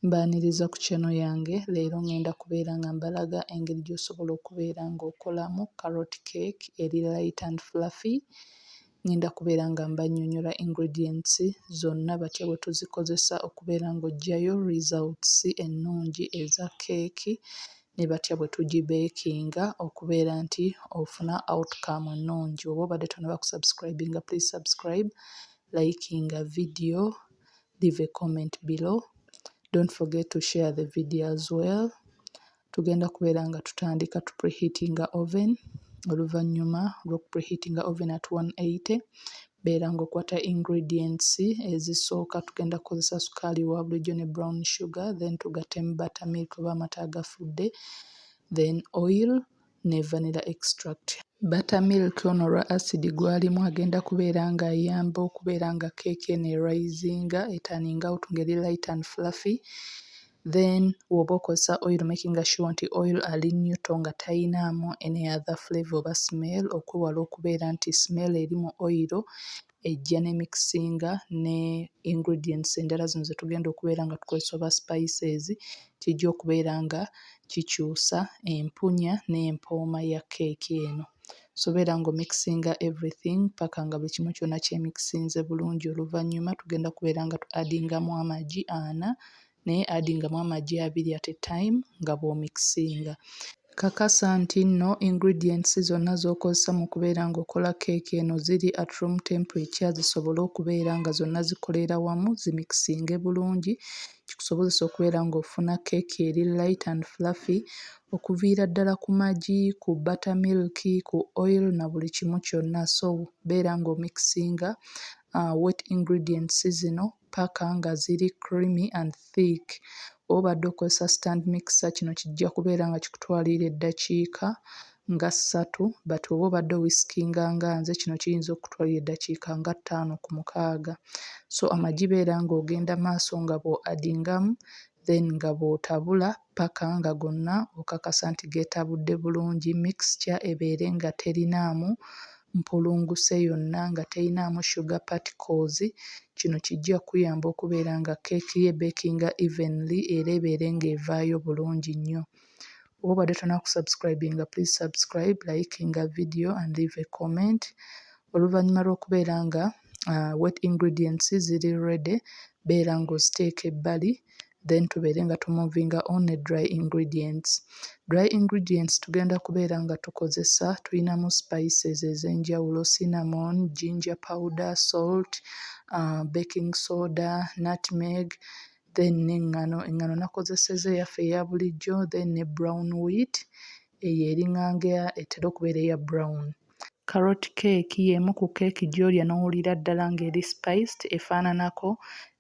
Mbaaniriza ku channel yange, leero ngenda kubeera nga mbalaga engeri gy'osobola okubeera nga okolamu carrot cake eri light and fluffy. Ngenda kubeera nga mbannyonyola ingredients zonna batya bwe tuzikozesa okubeera nga oggyayo results ennungi eza cake ne batya bwe tugi beekinga okubeera nti ofuna outcome ennungi. Oba obadde tonnaba kusubscribinga please subscribe, likinga video. leave a comment below don't forget to share the video as well tugenda kubeera nga tutandika tu preheatinga oven oluvannyuma lw'oku preheatinga oven at 180 beera ng'okwata ingredients ezisooka tugenda kukozesa sukaali wa bulijjo ne brown sugar then tugattemu butter milk oba amata agafudde then oil ne vanilla extract. Butter milk ono olwa acid gwalimu agenda kubeera nga ayamba okubeera nga keeki eno e risinga, e turning out nga eri light and fluffy then woba okozesa oil makinga sure nti oil ali neutral nga tayinaamu any other flavour oba smell okwewala okubeera nti smell eri mu oil ejja ne mikisinga ne ingredients endala zino ze tugenda okubeera nga tukozesa oba spices, kijja okubeera nga kikyusa empunya n'empooma ya kkeeki eno. So beera ng'omikisinga everything paka nga buli kimu kyonna kyemikisinze bulungi oluvannyuma tugenda kubeera nga tu-addingamu amagi ana naye addingamu amagi abiri at a time nga bw'omikisinga. Kakasa nti nno ingredients zonna z'okozesa mu kubeera ng'okola keeki eno ziri at room temperature zisobole okubeera nga zonna zikoleera wamu zimikisinge bulungi kikusobozese okubeera ng'ofuna keeki eri light and fluffy okuviira ddala ku magi, ku butter milk, ku oil na buli kimu kyonna so beera ng'omikisinga wet ingredients zino ppaka nga ziri creamy and thick. Bw'oba obadde okozesa stand mixer kino kijja kubeera nga kikutwalira eddakiika nga ssatu but bw'oba obadde owisikinga nga nze kino kiyinza okukutwalira eddakiika nga ttaano ku mukaaga. So amagi beera ng'ogenda maaso nga bw'oadingamu then nga bw'otabula. ppaka nga gonna okakasa nti geetabudde bulungi, mixture ebeere nga terinaamu mpulunguse yonna, nga terinaamu sugar particles, kino kijja kukuyamba okubeera nga keeki yo ebeekinga evenly era ebeere nga evaayo bulungi nnyo. Oba obadde tonna ku subscribinga please subscribe, likinga video and leave a comment. Oluvannyuma lw'okubeera nga wet ingredients ziri ready beera nga oziteeka ebbali then tubeere nga tu movinga on ne dry ingredients. Dry ingredients tugenda kubeera nga tukozesa tulinamu spices ez'enjawulo cinnamon, ginger powder, salt, baking soda, nutmeg then n'eŋŋano. Eŋŋano nakozesezza eyaffe eya bulijjo then ne brown wheat eyo eringanga etera okubeera eya brown. Carrot cake y'emu ku keeki gy'olya n'owulira ddala ng'eri spiced, efaananako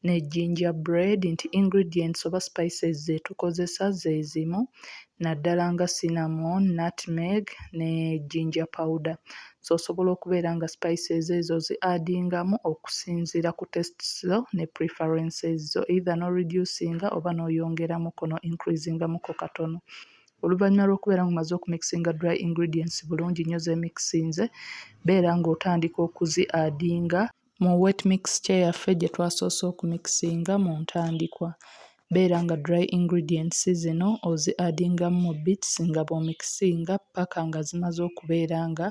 ne ginger bread nti ingredients oba spices ze tukozesa ze zimu naddala nga cinnamon, nutmeg ne ginger powder. So osobola okubeera nga spices ezo ozi-addingamu okusinziira ku tastes zo ne preferences zo either n'o-reducinga oba n'oyongeramuko n'o-increasingamuko katono. Oluvannyuma lw'okubeera ng'omaze okumixinga dry ingredients bulungi nnyo z'emixinze, beera ng'otandika okuzi adinga. Mu wet mixture yaffe gye twasoose okumixinga mu ntandikwa, beera nga dry ingredients zino ozi adingamu mu bits nga bw'omixinga ppaka nga zimaze okubeera nga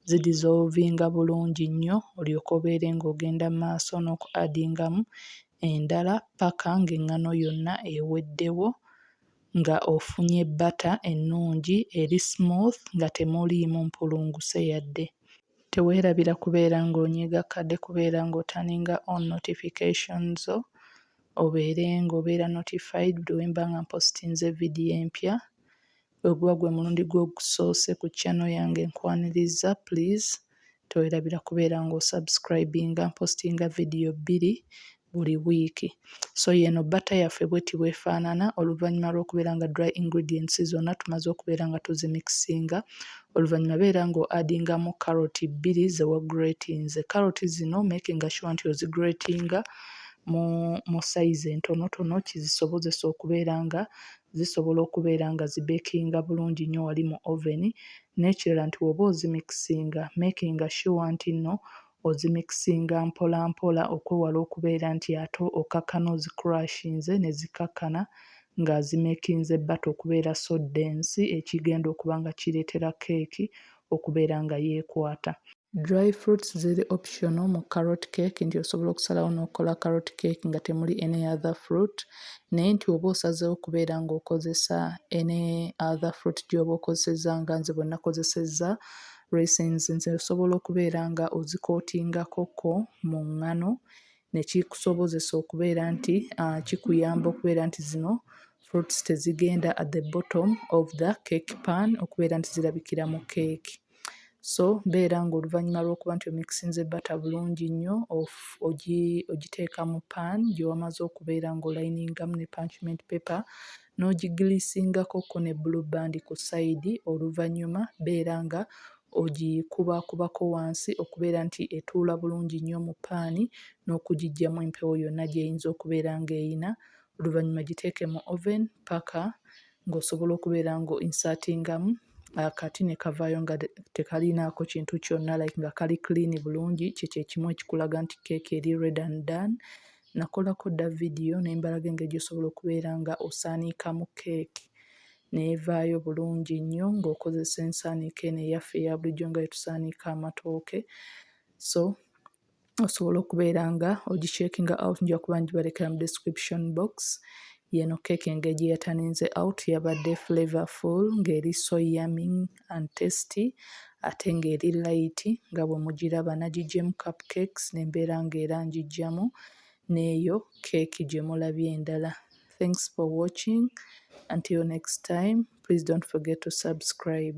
zi dissolvinga bulungi nnyo olyoke obeere ng'ogenda mu maaso n'oku adingamu endala ppaka ng'engano yonna eweddewo nga ofunye bbata ennungi eri smooth nga temuliimu mpulunguse yadde. Teweerabira kubeera ng'onyiiga kkade kubeera ng'otaninga on notification zo obeere ng'obeera notified buli we mba nga mpositinze vidiyo empya. Bwe guba gwe mulundi gwo ogusoose ku channel yange nkwaniriza please towerabira kubeera nga osubscribinga mpostinga video bbiri buli wiiki so yeeno bata yaffe bweti bwefaanana oluvannyuma lw'okubeera nga dry ingredients zonna tumaze okubeera nga tuzimikisinga oluvannyuma beera nga oadingamu carrot bbiri zewagratinze carrot zino makinga sure nti ozigratinga mu mu size entonotono kizisobozesa okubeera nga zisobola okubeera nga zi bekinga bulungi nnyo wali mu oven n'ekirala nti woba ozimikisinga makinga sure nti nno ozimikisinga mpola mpola okwewala okubeera nti ate okakkana ozi crushinze ne zikakkana nga azimekinze batter okubeera so dense ekigenda okuba nga kireetera keeki okubeera nga yekwata. Dry fruits ziri optional mu carrot cake nti osobola okusalawo n'okola carrot cake nga temuli any other fruit naye nti oba osazeewo kubeera ng'okozesa any other fruit gy'oba okozesezza nga nze bwe nakozesezza raisins nze osobola okubeera nga ozikootingakokko mu ŋŋano ne kikusobozesa okubeera nti uh, kikuyamba okubeera nti zino fruits tezigenda at the bottom of the cake pan okubeera nti zirabikira mu keeki. so beera nga oluvannyuma lw'okuba nti omikisinze bata bulungi nnyo ogiteeka mu pan gyewamaze okubeera nga olayiningamu ne punchment paper n'ogiglisingako ko ne blue band ku sayidi oluvannyuma beera nga ogikubakubako wansi okubeera nti etuula bulungi nnyo mu paani n'okugiggyamu empewo yonna gy'eyinza okubeera ng'eyina oluvannyuma giteeke mu oven paka ng'osobola okubeera nga o insertingamu akati ne kavaayo nga tekalinaako kintu kyonna like nga kali clean bulungi kye kye kimu ekikulaga nti keeki eri red and done. Nakolako dda vidiyo ne mbalaga engeri gy'osobola okubeera nga osaaniikamu keeki n'evaayo bulungi nnyo ng'okozesa ensaaniiko eno eyaffe eya bulijjo nga bwe tusaanika amatooke so osobola okubeera nga ogicheckinga out nja kuba ngibalekera mu description box yeno keeki engeri gye yataninze out yabadde flavorful ng'eri so yummy and tasty ate ng'eri light nga bwe mugiraba nagigyemu cup cakes ne mbeera ng'era ngiggyamu n'eyo keeki gye mulabye endala thanks for watching until next time please don't forget to subscribe